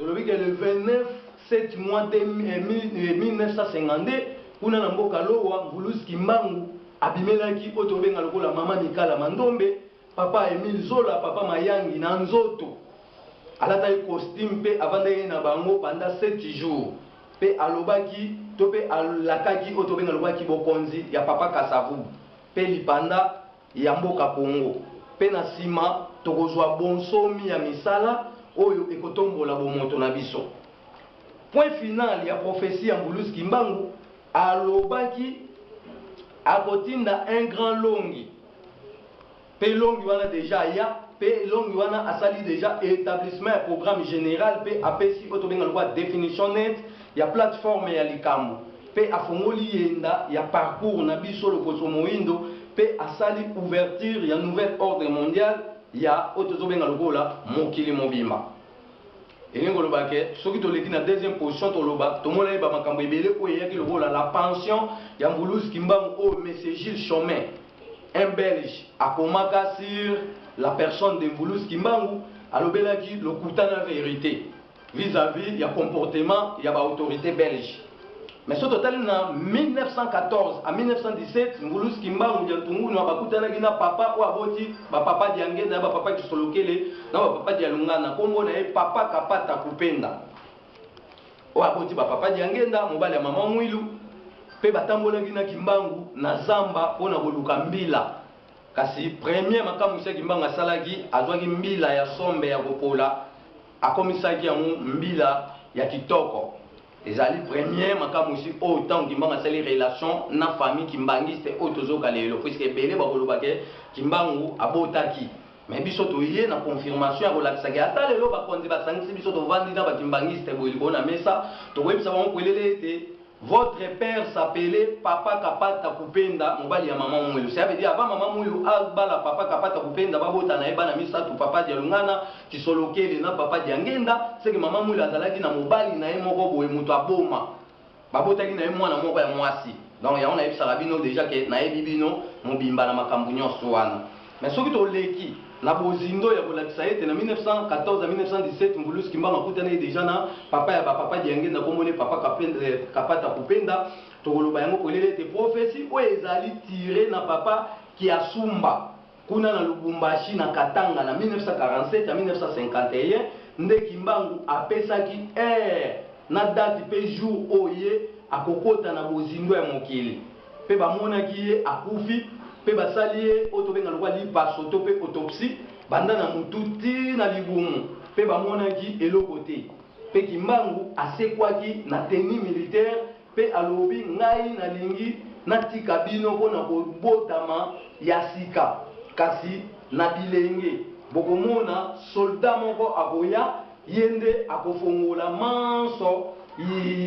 Tolobi que le 29 sept mois 1952, kuna na mboka Lowa, Mvuluzi Kimbangu abimelaki oyo tobenga lokola Mama Mikala Mandombe, Papa Emile Zola, Papa Mayangi na nzoto. Alataki costume mpe avandaki na bango pendant sept jours mpe alobaki to mpe alakaki oyo tobenga lokola kibokonzi ya Papa Kasa Vubu mpe lipanda ya mboka Congo mpe na nsima tokozwa bonsomi ya misala oyo ekotombola bomoto na biso. Point final ya prophetie ya Mbulus Kimbangu alobaki akotinda un grand longi mpe longi wana dejà aya mpe longi wana asali dejà etablissement ya programme general mpe apesi oyo tobenga lokola definition nette ya plate-forme ya likambo. mpe afongoli yenda ya parcours na biso loposo moindo mpe asali ouverture ya nouvel ordre mondial ya oyo tozo benga lokola mokili mobimba elingi koloba ke soki toleki na deuxième position toloba tomonani ba makambo ebele oyo eyaki lokola la pension ya mbuluzi kimbangu oyo monsieur Gilles Chomet un belge akomaka sur la personne de mbuluzi kimbangu alobelaki lokuta na verite vis à vis ya comportement ya ba autorités belges mais soki totali na 1914 à 1917 ngulus kimbangu diantungunua bakutanaki na papa oyo aboti bapapa diangenda na bapapa kisolokele na bapapa dialungana nkombo na ye papa kapata kupenda oyo aboti bapapa diangenda mobali ya mama mwilu mpe batambolaki na kimbangu na zamba mpo na koluka mbila kasi premier makamwisi ya kimbangu asalaki azwaki mbila ya sombe ya kopola Akomisaki yango mbila ya kitoko. Ezali premier makamwisi oyo tango Kimbangu asali relation na famille kimbanguiste oyo tozoyoka lelo puisque ebele bakoloba ke Kimbangu abotaki mais biso toye na confirmation ya kolakisa ke ata lelo bakonzi basangisi biso tovandi na ba kimbanguiste boye likolo na mesa tokoyebisa bango polele ete Votre père s'appelait papa kapata kupenda mobali ya maman muelu cela veut dire avant maman muelu abala papa kapata kupenda babota na ye bana misatu papa dialungana, kisolokele na papa diangenda ce que maman muelu azalaki na mobali na ye moko boye mutu aboma babotaki na ye muana moko ya muasi donc yango nayebisaka bino dejà que nayebi bino mobimba na makambu nionso wana. Mais soki toleki na bozindo ya kolakisa ete na 1914 na 1917 Mvuluzi Kimbangu akutanaki dejà na papa ya ba papa Diangenda kombo ne papa Kapata Kupenda, tokoloba yango polele ete prophetie oyo ezali tirer na papa Kiasumba kuna na Lubumbashi na Katanga na 1947 à 1951 nde Kimbangu apesaki heure na date mpe jour oyo ye akokota na bozindo ya mokili. Mpe bamonaki ye akufi, mpe basali ye oyo tobenga lokola lipaso to mpe autopsie, banda na motu tii na libumu, mpe bamonaki eloko te. Mpe Kimbangu asekwaki na tenue militaire, mpe alobi, Ngai nalingi natika bino mpo na kobotama ya sika, kasi na bilenge bokomona soldat moko akoya, ye nde akofongola manso,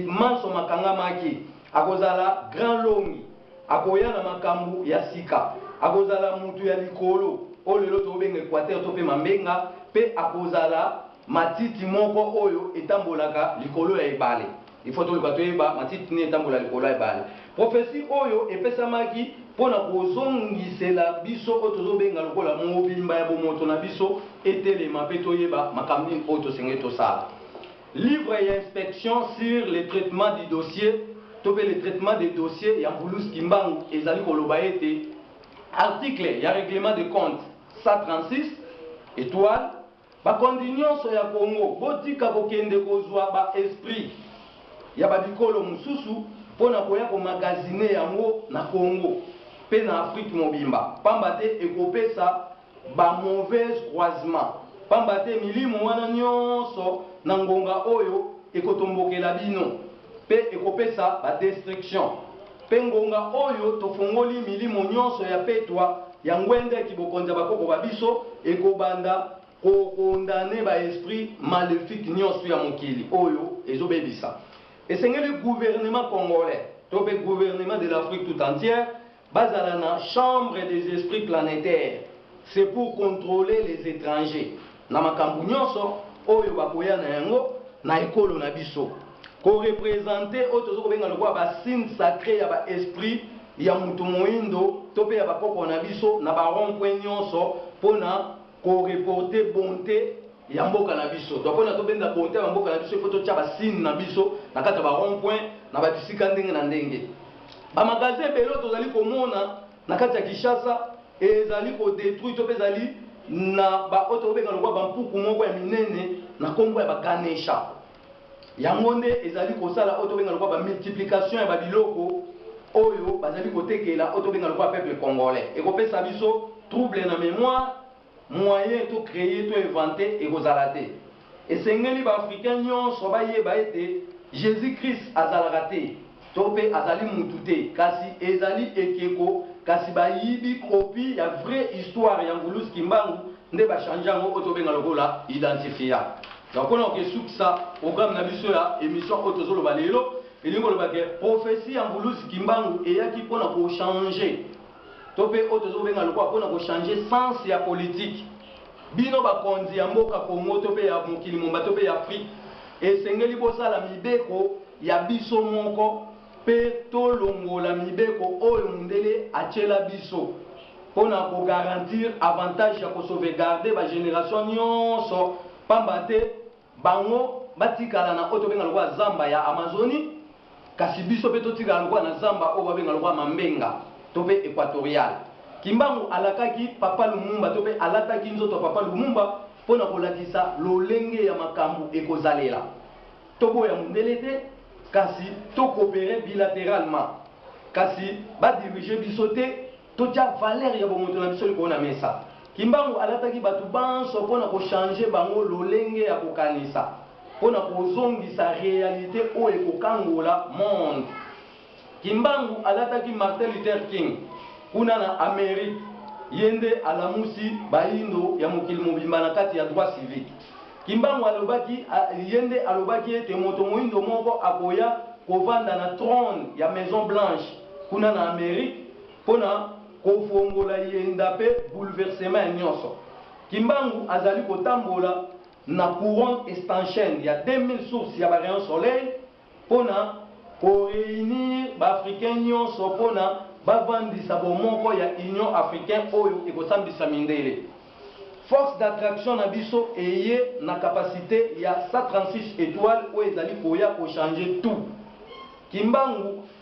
manso makangamaki. Akozala Grand Longi. Akoya na makambu ya sika. Akozala mutu ya likolo oyo lelo tokobenga equateur to pe mambenga pe akozala matiti moko oyo etambolaka likolo ya ebale. Il faut toluka toyeba matiti nini etambola likolo ya ebale. Prophetie oyo epesamaki pona kozongisela biso oyo tozobenga lokola mobimba ya bomoto na biso etelema pe toyeba makambu nini oyo tosengeli tosala. Livre ya inspection sur le traitement du dossier to mpe le traitement des dossiers ya Mbulus Kimbangu ezali koloba ete, Article ya Reglement de compte 136, etoile, Bakonzi nionso ya Congo, botika kokende kozua ba esprits ya ba bikolo mosusu mpo na koya ko magasiner yango na Congo mpe na Afrique mobimba, pamba te ekopesa ba mauvais croisements, pamba te milimo wana nyonso na ngonga oyo ekotombokela bino pe ekopesa ba destructions. Pe ngonga oyo tofongoli milimo nyonso ya petwa ya ngwende ya kibokonzi ya bakoko ba biso, ekobanda ko condamner ba esprits malefiques nyonso ya mokili oyo ezobebisa. Esengeli gouvernement congolais to pe gouvernement de l'Afrique tout entière, Bazala na chambre des esprits planetaires, c'est pour controler les etrangers na makambu nionso oyo bakoya na yango na ekolo na biso. Ko representer oyo tozo kobenga lokola ba signes sacres ya ba esprits ya mutu moindo to pe ya ba koko na biso na ba rond-points nionso pona ko reporter bonte, ya mboka na biso donc pona tobenda beaute ya mboka na biso il faut totia ba signe na biso na kati ya ba rond point na ba bisika ndenge na ndenge ba magasin ebele oyo tozali komona na kati ya Kinshasa ezali ko detruit to pe ezali na ba oyo tobenga lokwa ba mpuku moko ya minene na kombo ya ba ganesha yango nde ezali kosala oyo tobenga lokwa ba multiplication ya ba biloko oyo bazali kotekela oyo tobenga lokwa peuple congolais ekopesa biso trouble na memoire Moyen to creer to inventer ekozala te. Esengeli ba africains nionso bayeba ete Jesus Christ azalaka te to pe azali mutu te kasi ezali ekeko kasi bayibi copie ya vrai histoire ya Mvuluzi Kimbangu nde ba changer yango oyo tobenga lokola identifia. Donc pona kokesukisa programme na biso ya emission oyo tozoloba lelo elingi koloba ke prophetie ya Mvuluzi Kimbangu eyaki pona ko changer to pe oyo tozo benga lokola pona ko changer sens ya politique bino ba konzi ya mboka Congo to pe ya mokili momba to pe ya Afrique esengeli bosala mibeko ya biso moko pe to longola mibeko oyo mundele atiela biso pona ko garantir avantage ya ko sauvegarder ba generation nionso pamba te Bango batikala na oyo tobenga lokola zamba ya Amazoni, kasi biso pe totikala lokola na zamba oyo babenga lokola Mambenga to pe Equatorial. Kimbangu alakaki Papa Lumumba to pe alataki nzoto ya Papa Lumumba po na kolakisa lolenge ya makambu ekozalela. Toboya mundele te, kasi to cooperer bilateralement, kasi ba diriger biso te. Totia valeur ya bomoto na biso likolo na mesa. Kimbangu alataki bato banso mpo na ko changer bango lolenge ya kokanisa, mpo na kozongisa realite oyo ekokangola monde. Kimbangu alataki Martin Luther King kuna na Amerique, ye nde alamusi bayindo ya mokili mobimba na kati ya droit civique. Kimbangu alobaki, ye nde alobaki ete moto moyindo moko akoya kovanda na trone ya Maison Blanche. kuna na Amerique mpo na kofongola eyenda mpe bouleversement nionso. Kimbangu azali kotambola na couronne estanchienne ya 2000 sources ya ba rayons soleil mpo na ko reunir ba Africains nionso mpo na bavandisa bomoko ya Union africain oyo ekosambisa mindele. Force d'attraction na biso eye na capacite ya 136 etoiles oyo ezali koya ko changer tout. Kimbangu.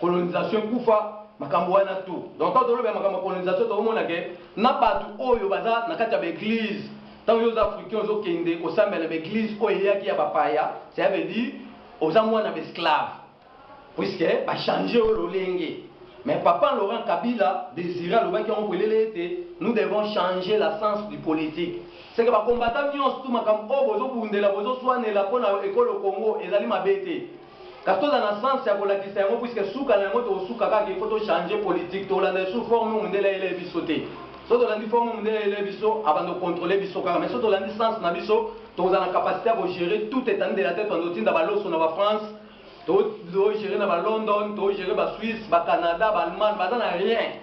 colonisation ekufa makambo wana tout donc tango toloba ya makambo ya colonisation tokomona ke na batu oyo baza na kati ya ba eglise tango yo oza africain ozokende kosambela na ba eglise oyo eyaki ya bapaya cela veut dire oza mwana ba esclave puisque ba changer yo lolenge mais papa Laurent Kabila desire alobaki yango polele ete nous devons changer la sens du politique seke ba combattant nyonso tu makambo oyo bozobundela bozoswanela mpo na ekolo Congo ezali mabe te Kasi toza na sens ya kolakisa yango puisque suka na yango tokosuka kaka il faut to changer politique tokolanda lisusu forme oyo mundele ayeleye biso te. Soki tolandi forme oyo mundele ayeleye biso abanda ko controler biso kaka mais soki tolandi sens na biso tokozala na capacite ya ko gerer toute etendue de la terre tobanda kotinda ba loso na ba France to gerer na ba London to gerer ba Suisse ba Canada ba Allemagne baza na rien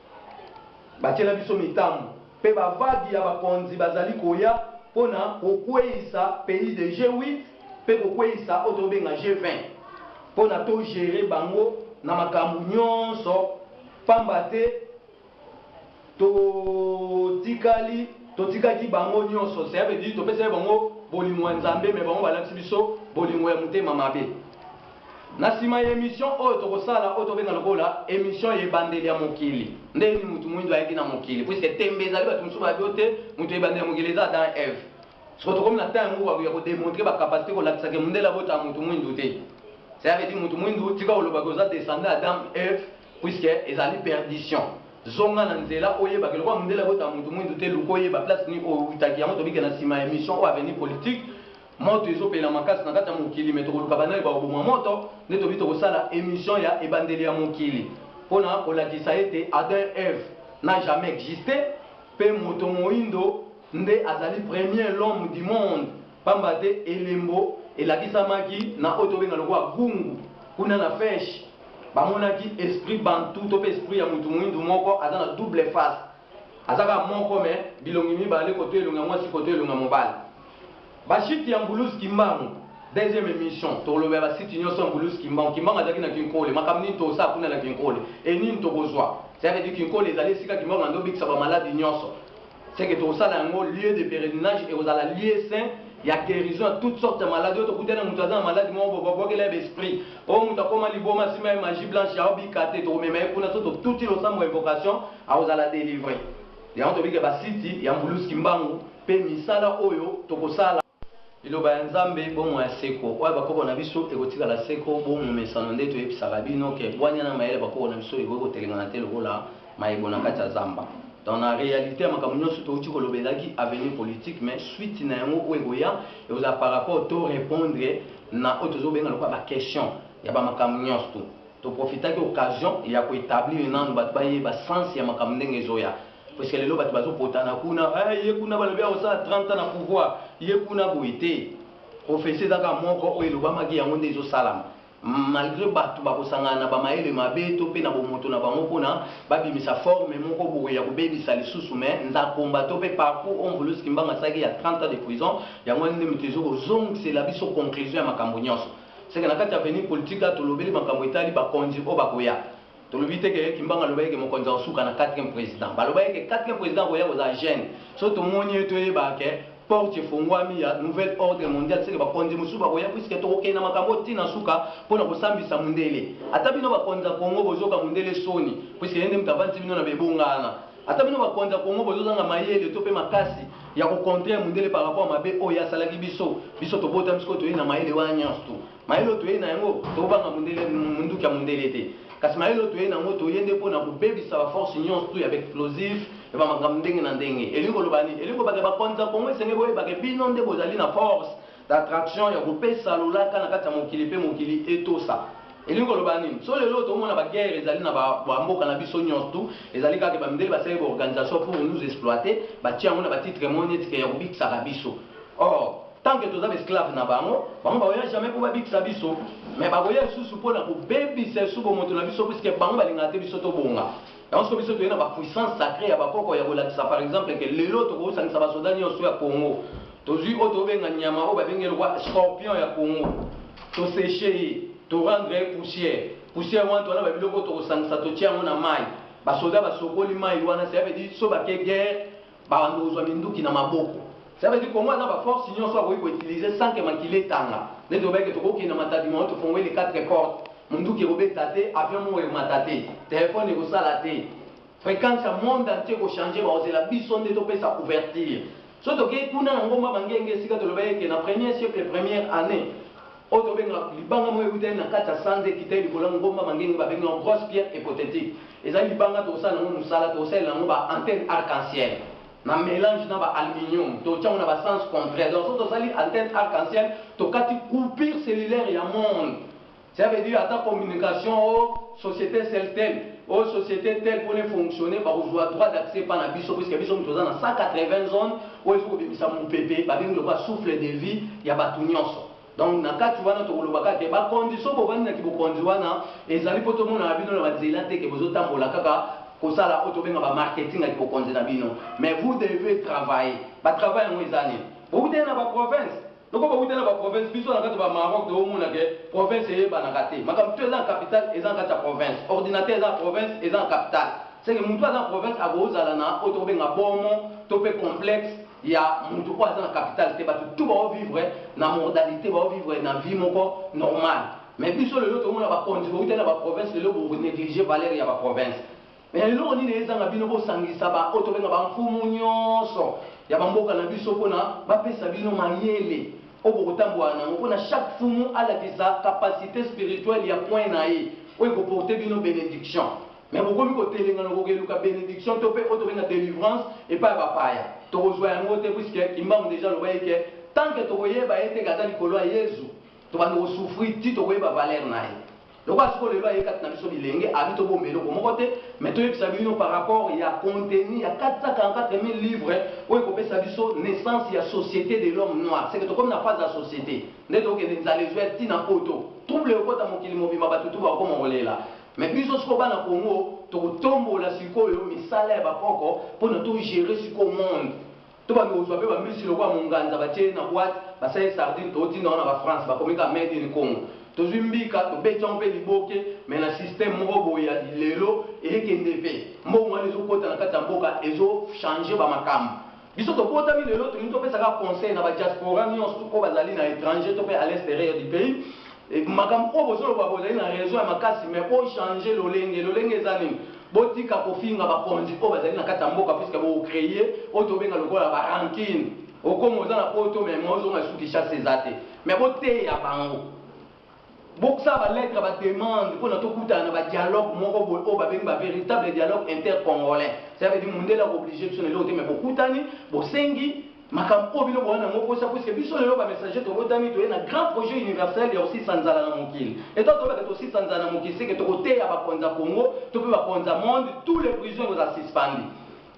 Batiela biso mitambu pe ba vague ya bakonzi bazali koya pona kokueyisa pays de G8 pe kokueyisa oyo tobenga G20 pona to gerer bango na makambu nionso pamba te totikali totikaki bango nionso cela veut dire topesaki bango bolingo ya Nzambe mais bango balatisi biso bolingo ya motema mabe. Na sima ya emission oyo toko sala oyo to benga lokola emission ya ebandeli ya mokili. Ndenge nini mutu muindu ayaki na mokili puisque tembe ezali batu mususu bayebi oyo te mutu ya ebandeli ya mokili eza Adam et Eve. Sikoyo tokomi na temps yango ya ko demontrer ba capacites ko lakisa ke mundele abotaka mutu muindu te. Cela veut dire mutu muindu tika koloba ke oza descendant ya Adam et Eve puisque ezali perdition. Zonga na nzela oyeba ke lokola mundele abotaka mutu muindu te luka oyeba place nini owutaki yango tobike na sima ya emission oyo avenir politique Moto ezo pela makasi na kati ya mokili mais tokoluka ba nani bakoboma moto nde tobi tokosala emission ya ebandeli ya mokili pona kolakisa ete Adam et Eve n'a jamais existe pe moto moyindo nde azali premier l'homme du monde pamba te elembo elakisamaki na oyo tobenga lokola Gungu kuna na Fesh bamonaki esprit Bantou to pe esprit ya mutu moyindo moko aza na double face Aza kaka moko mais bilongi mibale koto elongi ya mwasi koto elongi ya mobali. Ba chute ya Mbuluz Kimbangu deuxième emission tokolobela ba sites nioso ya Mbuluz Kimbangu. Kimbangu azalaki na Kinkole makambo nini tosala kuna na Kinkole et nini tokozua? C'est à dire Kinkole ezali esika Kimbangu ando bikisa ba malade nioso ce que tokosala yango lieu de peregrinage ekozala lieu saint ya guerison ya toute sorte ya malade oyo tokutani na mutu aza na malade moko boye babwakela ye ba esprit Oyo mutu akoma liboma asimba ye magie blanche ao bika te tokomema ye kuna soki totuti losambo ya invocation akozala delivre yango tobike ba site ya mbulus kimbangu pe misala oyo tokosala. Liloba ya Nzambe bomoi ya seko oyo ya ba koko na biso ekotikala seko bo momesano nde toyebisaka bino ke bwanya na mayele ya ba koko na biso ekoki kotelengana te lokola Mayebo na kati ya zamba. Dans la realite ya makambo nionso towuti koloba ezalaki avenir politique mais suite na yango oyo ekoya ekozala par rapport to repondre na oyo tozo benga lokola ba question ya ba makambo nionso tout. To profitaki occasion ya ko etablir nanu batu bayeba sens ya makambo ndenge ezoya puisque lelo batu bazo potana kuna eh ye kuna balobi akosala 30 ans na pouvoir ye kuna boye te prophetie eza kaka moko oyo elobamaki yango nde ezo salama. malgre batu bakosangana na ba mayele mabe to pe na bomoto na bango pona babimisa forme moko boye ya kobebisa lisusu mais nzakomba to pe parcours ont voulus kimbanga asalaki ya 30 ans de prison yango wana nde mutu ezo kozongisela biso conclusion ya makambo nionso seke na kati ya avenir politique awa tolobeli makambo etali bakonzi oyo bakoya tolobi te ke kimbanga alobaki ke mokonzi akosuka na 4 président balobaki ke 4 président akoya kozala jeune so tomoni ye toyeba ke porte efongwami ya nouvelle ordre mondial seke bakonzi mosusu bakoya puiske tokokende na makambo ti na suka mpo na kosambisa mundele ata bino bakonzi ya congo bozoka mundele soni puiske ye nde moto avandisi bino na bebongana ata bino bakonzi ya congo bozozanga mayele to mpe makasi ya kocontre mundele par rapport mabe oyo asalaki biso biso tobotami sikoyo toyei na mayele wana nyonso tu Mayele oyo toyei na yango, tokobanga mundele, munduki ya mundele te. Kasi mayele oyo toyei na yango, toyei nde mpo na kobebisa ba forces nionso ya ba explosifs, ya ba makambo ndenge na ndenge. Elingi koloba nini? Elingi koloba que bakonzi ya Congo esengeli boyeba que bino nde bozali na force d'attraction ya kopesa lolaka na kati ya mokili mpe mokili etosa. Elingi koloba nini? Soki lelo oyo tokomona ba guerres ezali na ba mboka na biso nionso, ezali kaka que ba mindele basalaki ba organisations pour nous exploiter, batie yango na ba titres moko neti que ya kobikisaka biso. Or, tant que toza ba esclaves na bango, bango bakoya jamais po babikisa biso, mais bakoya lisusu pona kobebisa lisusu bomoto na biso puisque bango balingaka te biso tobonga. Yango sikoyo biso toye na ba puissances sacrees ya bakoko ya kolakisa par exemple que lelo tokosangisa ba soldats nionso ya Congo, tozui oyo tokobenga nyama oyo babengi ye lokola scorpion ya Congo, to secher ye, to rendre ye poussière, poussière wana toza na ba biloko oyo tokosangisa totie yango na mayi, ba soldats basokoli mayi wana, cela veut dire soki bake guerre, Banda ozua minduki na maboko ça veut dire congo aza na ba force nioso akoki ko utilise sans que makila etanga neti olobaki que toko kende na matadi moto tofongoli les quatre portes munduki ekobeta te avion moko emata te telephone ekosala te frequence ya monde entier eko change bakozela biso nde topesa couverture soki tokei kuna na ngomba bangenge esika tolobaki que na premier siècle première annee Oyo tobenga libanga moko ewuteli na kati ya sanza ekiteli likolo ya ngomba mangenge babengi yango grosse pierre hypothétique. Ezali libanga tokosala na yango mosala, tokosalela yango ba antennes arc-en-ciel na melange na ba aluminium, totia yango na ba sens contraires. Donc soki tosali antenne arc-en-ciel, tokati coupure cellulaire ya monde. Cela veut dire ata communication o societe Celtel, o societe tel pona e fonctionner, bakozua droit d'accès epa na biso puisque biso mtu toza na 180 zones, oyo il faut kobimisa mupepe babengi lokola souffle de vie ya batu nionso donc na kati wana tokoloba kaka ke ba conditions bovandi na kibokonzi wana ezali po tomonana bino na ba nzela te ke bozo tambola kaka kosala oyo tobenga ba marketing ya kibokonzi na bino mais vous devez travailler ba travail yango eza nini bowutaki na ba provinces Lokola ba wuta na ba province biso na kati ba Maroc to mona ke province eyebanaka te makambo tout eza na capital eza na kati ya province ordinateur eza na province eza na capital ce ke mutu aza na province akoki ozala na oyo toko benga bomo to pe complexe ya mutu oyo aza na capital te batu tout bao vivre na mordalite bao vivre na vie moko normal mais biso lelo tomona ba konzi bawutela ba province lelo bo negliger valeur ya ba province. Mais eloko nini ezanga bino bo sangisa ba oyo tobenga ba mfumu nionso ya ba mboka na biso pona ba pesa bino mayele oyo boko tambola nango pona chaque fumu alakisa capacite spirituelle ya coin naye oyo eko porter bino benediction mais bokomi ko telengana ko keluka benediction to pe oyo tobenga delivrance epa ya ba paya toko zua yango te puisque kimbangu dejà aloba ye ke tant que toko yeba ye te ke aza likolo ya yezu tobanda ko souffrir ti toko yeba valeur naye. Lokola sikoyo lelo aye kati na biso bilenge, abi tobomba eloko moko te, mais toyebisa bino par rapport ya contenu ya 444000 livres oyo ekopesa biso naissance ya societe de l'homme noir, seke tokomi na phase ya societe nde tokende nzala ezua ya tina poto, trouble ekokota mokili mobimba batu tout bakokoma kolela, mais biso sikoyo bana Congo tokotombola sikoyo misala ya bakoko pona to gerer sikoyo monde. To bandi kozua pe ba mbisi lokola monganza batie ye na boite basali sardine totinda yango na ba France bakomi kaka made in Congo. Tozui mbika tobeti yango pe liboke mais na système moko boye ya lilelo eye kende pe mbongo wana ezo kota na kati ya mboka ezo changer ba makambo. Biso tobotami lelo tolingi topesa kaka conseil na ba diaspora nionso oyo bazali na etranger to pe à l'exterieur du pays. Makambo oyo bozo loba bozali na raison ya makasi mais bo changer lolenge, lolenge eza nini? Botika kofinga bakonzi oyo bazali na kati ya mboka puisque bo cree oyo tobenga lokola ba rancune. Okoma oza na poto mais moyen ozonga lisusu Kinshasa eza te mais boteya bango bokosala ba lettres ya ba demandes pona tokutana na ba dialogues moko boye oyo babengi ba veritables dialogues intercongolais cela veut dire mundele ako obliger biso na eloko te mais bokutani bosengi Makambo oyo bino boya na ngo posa puisque biso lelo ba messager tobotami toye na grand projet universel ya kosisa nzala na mokili et tango toyeba ke tosisa nzala na mokili seke toko teya ba konza kongo to pe ba konza monde tout le prison ekozala suspendu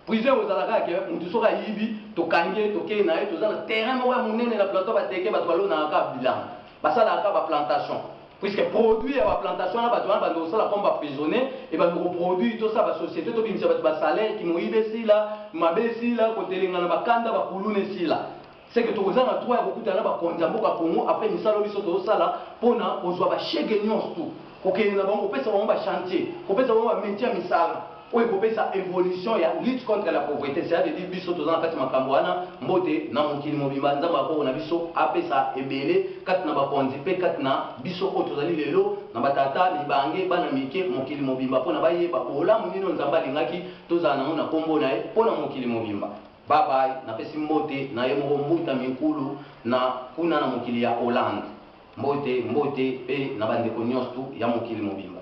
prison ekozala kaka ke mutu soki ayibi tokangi ye tokeyi naye toza na terrain moko ya munene na plateau ya bateke batu balonaka kaka bilangi basalaka kaka ba plantation Puisque produit ya ba plantation wana batu wana bande kosala comme ba prisonnier et bande ko produit tosala ba societe tobimisa batu ba salaire kimoyibi esila mabe esila kotelengana ba kanda ba kuluna esila ce que tokozanga droit ya kokutana na ba konzi ya mboka Congo après misala oyo biso tozosala pona kozua ba chegue nionso tout kokende na bango kopesa bango ba chantier kopesa bango ba metier ya misala oyo ekopesa evolution ya lutte contre la pauvrete, cela veut dire biso toza na kati makambo wana, mbote na mokili mobimba, Nzambe ya koko na biso apesa ebele kati na bakonzi mpe kati na biso oyo tozali lelo na ba tata, mibange, bana mike, mokili mobimba mpo na bayeba bolamu nini oyo Nzambe alingaki tozala nango na kombo na ye mpo na mokili mobimba. Bye bye, napesi mbote na ye moko Mbuta Minkulu na kuna na mokili ya Hollande. Mbote, mbote mpe na bandeko nionstu ya mokili mobimba.